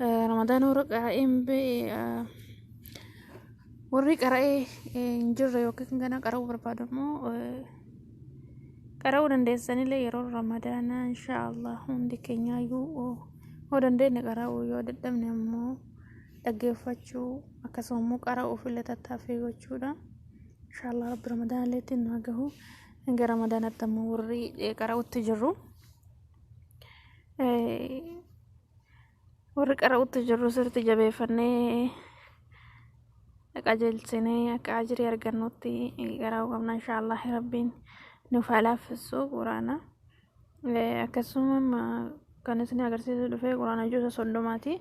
Ramadaan warra qara'een warri qara'ee hin jirre yookiin gana qara'uu barbaadu immoo qara'uu dandeessanillee yeroo ramadaanaa inshaallah hundi keenyaayyuu yoo dandeenye qara'uu yoo dadhabne immoo dhaggeeffachuu akkasuma immoo qara'uuf illee tattaaffii gochuudha inshaallah rabbi ramadaanallee ittiin nu haa gahu hanga ramadaanatti immoo warri qara'utti jirru. warri qara'utti jirru sirti jabeeffannee qajeelchinee akka ajirii argannutti qara'uu qabna inshaallah rabbiin nuuf haa laaffisu quraana akkasuma kan isin agarsiisu dhufe quraana juusa soddomaati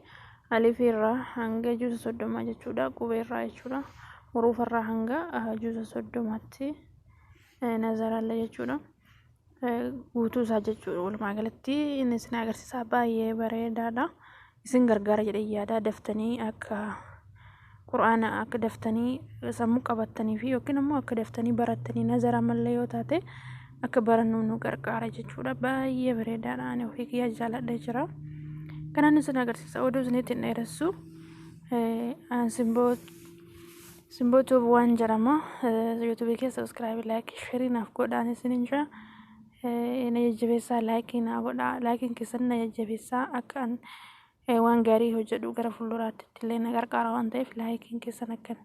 alifii irraa hanga juusa soddomaa jechuudha qubee irraa jechuudha huruufa irraa hanga juusa soddomaatti nazaralla jechuudha guutuu isaa jechuudha walumaa galatti inni isin agarsiisaa baay'ee bareedaadha isin gargaara jedhee yaadaa daftanii akka qura'aana akka daftanii sammuu qabattanii fi yookiin immoo akka daftanii barattanii nazara malee yoo taate akka barannu nu gargaara jechuudha baay'ee bareedaadha ani ofii kiyyaa jaaladha jira kanaan isin agarsiisa oduu isinitti hin dheeressu ansimboo Simboo Tube waan jedhama. YouTube kee subscribe, like, share naaf godhaan isinin jira. Na jajjabeessaa like naa godhaa. Like keessan na jajjabeessaa akka an waan gaarii hojjedhu gara fuulduraatti illee na gargaara waan ta'eef like keessan akka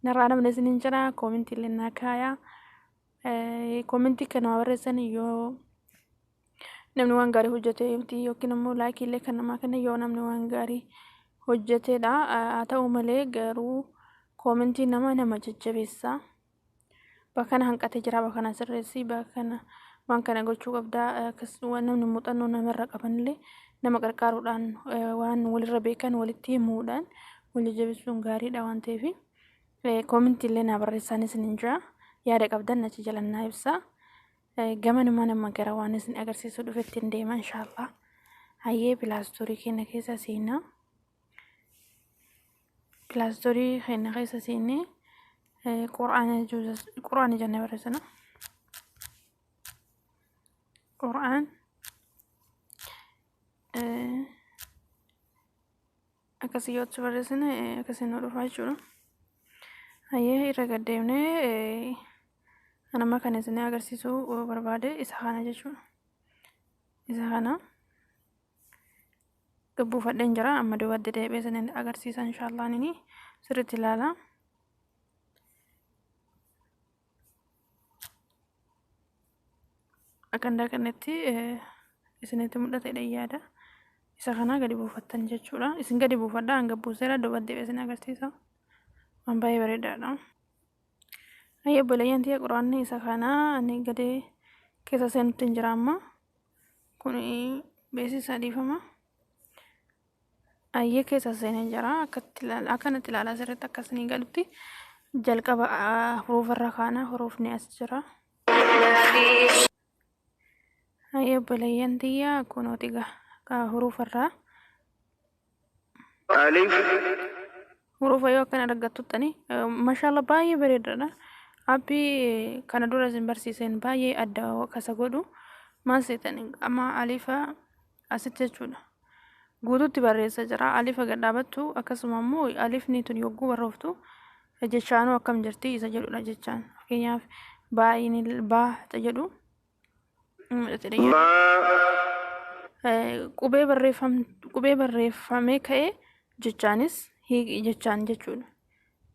narraa namni isinin jira. Koomintii illee naa kaayaa. Koomintii kan nama barreessan yoo namni waan gaarii hojjete miti yookiin immoo laayikii illee kan namaa kenna yoo namni waan gaarii hojjetedha haa ta'u malee garuu koomentii nama nama jajjabeessa bakka kana hanqatee jira bakka kana sirreessi bakka kana waan kana gochuu qabda akkas waan namni muuxannoo namarra qabanillee nama qarqaaruudhaan eh, waan walirra beekan walitti himuudhaan wal jajjabeessuun gaariidha waan ta'eef eh, koomentii illee naa barreessaanis ni jira yaada qabdan achi jalannaa ibsaa. Gamanumaan amma gara waan isin agarsiisuu dhufetti hin deema inshaallah. Hayyee pilaastoorii keenya keessa seenaa. Pilaastoorii keenya keessa seenee quraana quraana jennee barreessina. Quraan akkasii yoo achi barreessine akkasii nu dhufaa jechuudha. Hayyee irra gad deemnee anamma kan isin agarsiisuu barbaade isa kana jechuudha. Isa kana gabbuufadheen jira amma duubatti deebi'ee isin agarsiisa inshaallah nini sirriitti ilaalaa. Akandaa kanatti isinitti mul'ate dhayyaadha. Isa kana gadi buufattan jechuudha. Isin gadi buufadha hanga buuseera duuba deebi'ee isin agarsiisa. Waan baay'ee bareedaadha. Ayyee obboleeyyan tiyya quraanni isa kana ani gadi keessa seenutti hin jira amma. Kun beeksisa dhiifama. Ayyee keessa seenee jira akkatti ilaala akkanatti ilaalaa sirriitti akka isinii galutti jalqaba ah, huruufa irra kaana huruufni as jira. Ayyee obboleeyyan tiyya kunooti gaa ah, huruufa irraa ألف huruufa yoo akkana argattuttani mashaalla baay'ee bareedaadha. Appii kana dura isin barsiiseen baay'ee adda kasa godhu maal seetan amma alifa Asitti jechuudha. Guutuutti barreessa jira. Alifa gad dhaabattu akkasuma immoo alifni tun yogguu barrooftu jechaanuu akkam jirti isa jedhudha jechaan. Fakkeenyaaf baay'inil baa ta jedhu qubee barreeffam qubee barreeffamee ka'ee jechaanis jechaan jechuudha.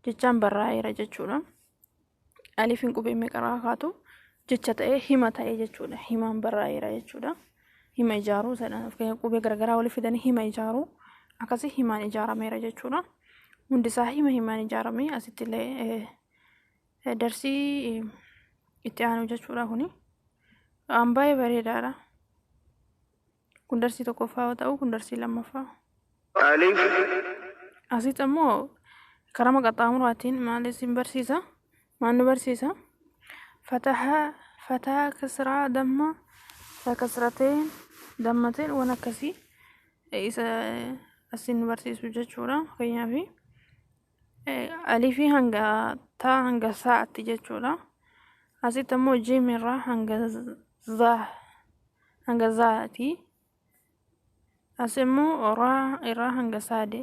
Jechaan barraa'eera jechuudha. alifiin qubee meeqarraa kaatu jecha ta'ee hima ta'ee jechuudha. Himaan barraa'eera jechuudha. Hima ijaaruu jedhan fakkeenyaaf qubee garagaraa walitti fidanii hima ijaaruu akkasii himaan ijaarameera jechuudha. Hundisaa hima himaan ijaarame asitti illee eh, eh, darsii eh, itti aanu jechuudha kuni. Waan baay'ee bareedaadha. Kun darsii tokkoffaa yoo ta'u, kun darsii lammaffaa. Alif. Asitti ammoo karama qaxxaamuraatiin maal isin barsiisa? Maal nu barsiisa? Fataha, fataa, kasraa, damma, fataa kasrateen, dammateen waan akkasii isa asin nu barsiisu jechuudha. Fakkeenyaaf alifii hanga taa hanga saa'atti jechuudha asitti ammoo jiim irraa hanga zaa hanga zaati as immoo raa irraa hanga saade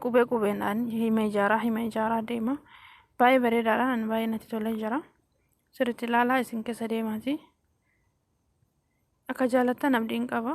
qubee qubeedhaan hima ijaaraa hima ijaaraa deema baay'ee bareedaadha ani baay'ee natti tolee jira sirriitti ilaalaa isin keessa deemaati akka jaalattan abdiin qaba.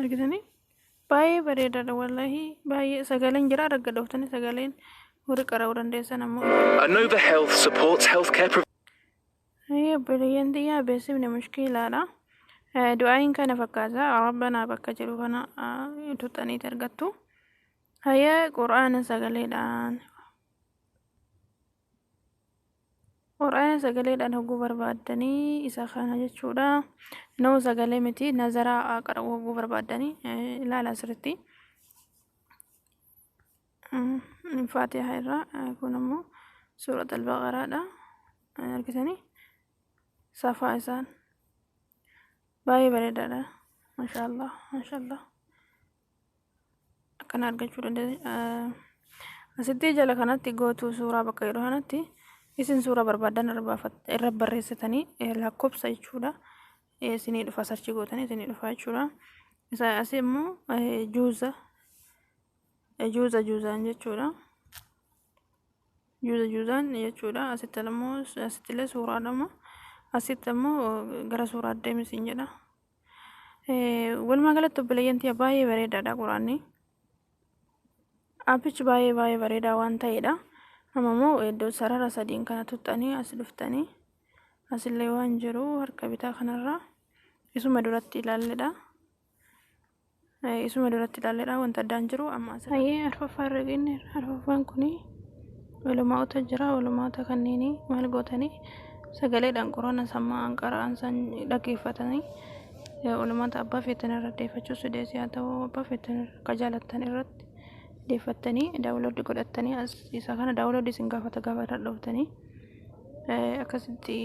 argitanii baay'ee bareedaadha wallahi baay'ee sagaleen jira arga dhoftanii sagaleen warri qara'uu dandeessan ammoo Anova Health supports healthcare providers. Ayya obboleeyyan tiyyaa beeksifni mushkiilaadha. Eh, Du'aayin kana fakkaata rabbanaa bakka jiru kana eh, tuxxaniiti argattu. Hayya qura'aana sagaleedhaan Qur'aana sagaleedhaan hogguu barbaaddanii isa kana jechuudha. Noo sagalee miti nazaraa qara'uu hogguu barbaaddanii ilaala asirratti. Faatiha irraa kun ammoo suurat al-baqaraadha. Argitanii safaa isaan baay'ee bareedaadha. Mashaallah mashaallah. akkana argachuu dandeessa asitti jala kanatti gootuu suuraa bakka jedhu kanatti isin suuraa barbaadan irra barreessitanii lakkoofsa jechuudha isinii dhufa sarchii gootanii isinii dhufa jechuudha isa asii immoo juuza juuza juuzaan jechuudha juuza juuzaan jechuudha asitti immoo asitti illee suuraa dhama asitti immoo gara suuraa deemisiin jedha Walumaa galatti obboleeyyan tiyya baay'ee bareedaadha quraanni. Appichi baay'ee baay'ee bareedaa waan ta'eedha. Amma immoo iddoo sarara sadiin kana tuttanii as dhuftanii asillee waan jiru harka bitaa kanarraa isuma duratti ilaalledha. Isuma duratti ilaalleedha wanta addaan jiru amma asirra. Hayyee arfaffaa irra geenye arfaffaan kun ulamaa'ota jira ulamaa'ota kanneen maal gootanii sagaleedhaan quraana sammaa anqara'an san dhaggeeffatanii ulamaata abbaa feetan irra deeffachuu sideessi haa ta'u abbaa feetan akka jaalattan irratti deeffattanii daawulooddi godhattanii isa kana daawulooddi isin gaafata gaafata dhuftanii. akkasitti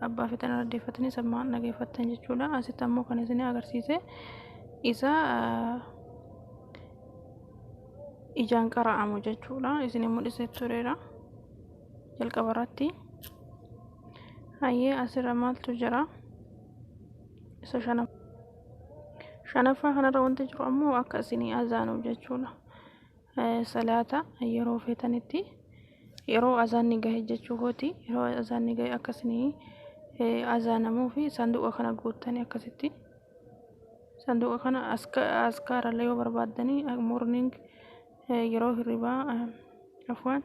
abbaa feetan irra deeffattanii sammaan dhageeffattan jechuudha. Asitti ammoo kan isin agarsiise isa ijaan qara'amu jechuudha. Isin mul'isee tureera jalqaba irratti. Hayyee asirra maaltu jira? Isa shanaffaa. Shanaffaa kanarra wanti jiru ammoo akka isin azaanuuf jechuudha. salaata yeroo feetanitti yeroo azaanni gahe jechuu kooti yeroo azaanni gahe akka isinii azaanamuufi sanduuqa kana guuttanii akkasitti sanduuqa kana askaarallee yoo barbaaddanii morning yeroo hirribaa afwaan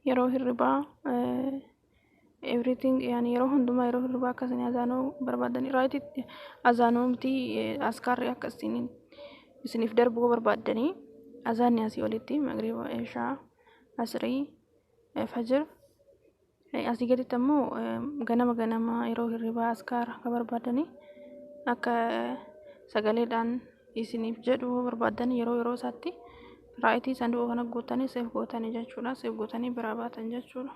yeroo hirribaa everything yani yeroo hundumaa yeroo hirribaa akka isin azaanoo barbaaddan irraatitti azaanoomti askaarri akka isin isiniif darbuu barbaaddanii azaanni asii olitti magriba ishaa asrii fajir asii gaditti ammoo ganama ganama yeroo hirribaa askaara akka barbaadanii akka sagaleedhaan isiniif jedhu yoo barbaaddan yeroo yeroo isaatti raayitii sanduuqa kana guuttanii seef gootanii jechuudha seef gootanii biraa baatan jechuudha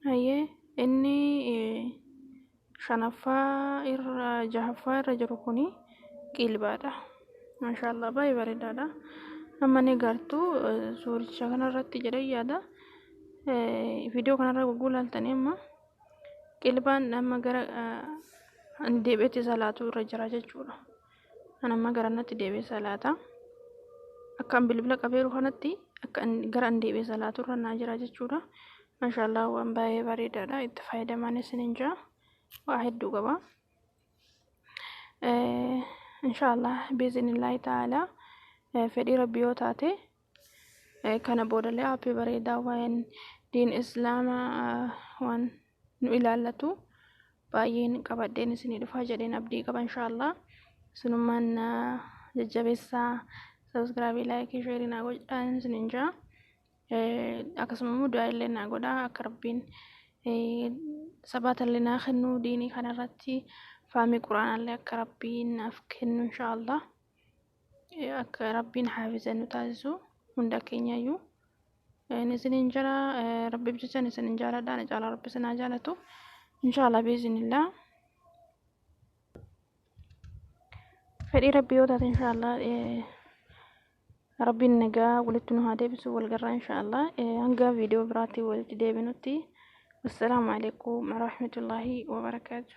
hayyee inni shanaffaa irra jahaffaa irra jiru kun qiilbaadha maashaallah baay'ee bareedaadha amma ni gartu suuricha kanarratti jedhee yaada viidiyoo kanarra gurguu laaltanii amma Qilbaan amma gara ani deebi'etti salaatuu irra jira jechuudha. Ani amma gara natti deebi'ee salaata. Akka an bilbila qabeeru kanatti akka gara an deebi'ee salaatuu irra naa jira jechuudha. Mashaallah waan baay'ee bareedaadha. Itti fayyadamaan isiniin jira. Waa hedduu qaba. Inshaallah biizinillaahi ta'aalaa fedhii rabbi yoo taate kana boodallee aappii bareedaa waa'een diin islaama waan nu ilaallatu baay'een qabadheen isinii dhufaa jedheen abdii qaba inshaallah sunummaan jajjabeessaa sabskraabii laayikii sheerii naa godhaan isiniin jaa akkasuma immoo du'aa illee naa godhaa akka rabbiin sabaatallee naa kennu diinii kanarratti faamii quraanaallee akka rabbiin naaf kennu inshaallah akka rabbiin haafiza nu taasisu hunda keenyayyuu isiniin jira rabbiif jechan isinin jaaladha na caalaa rabbi isinaa jaalatu inshaallah biizinillaa fedhii rabbii yoo taate inshaallah rabbiin nagaa walitti nu haa deebisu walgarraa inshaallah hanga viidiyoo biraatti walitti deebinutti wassalaamu alaikum warahmatullaahi wabarakaatu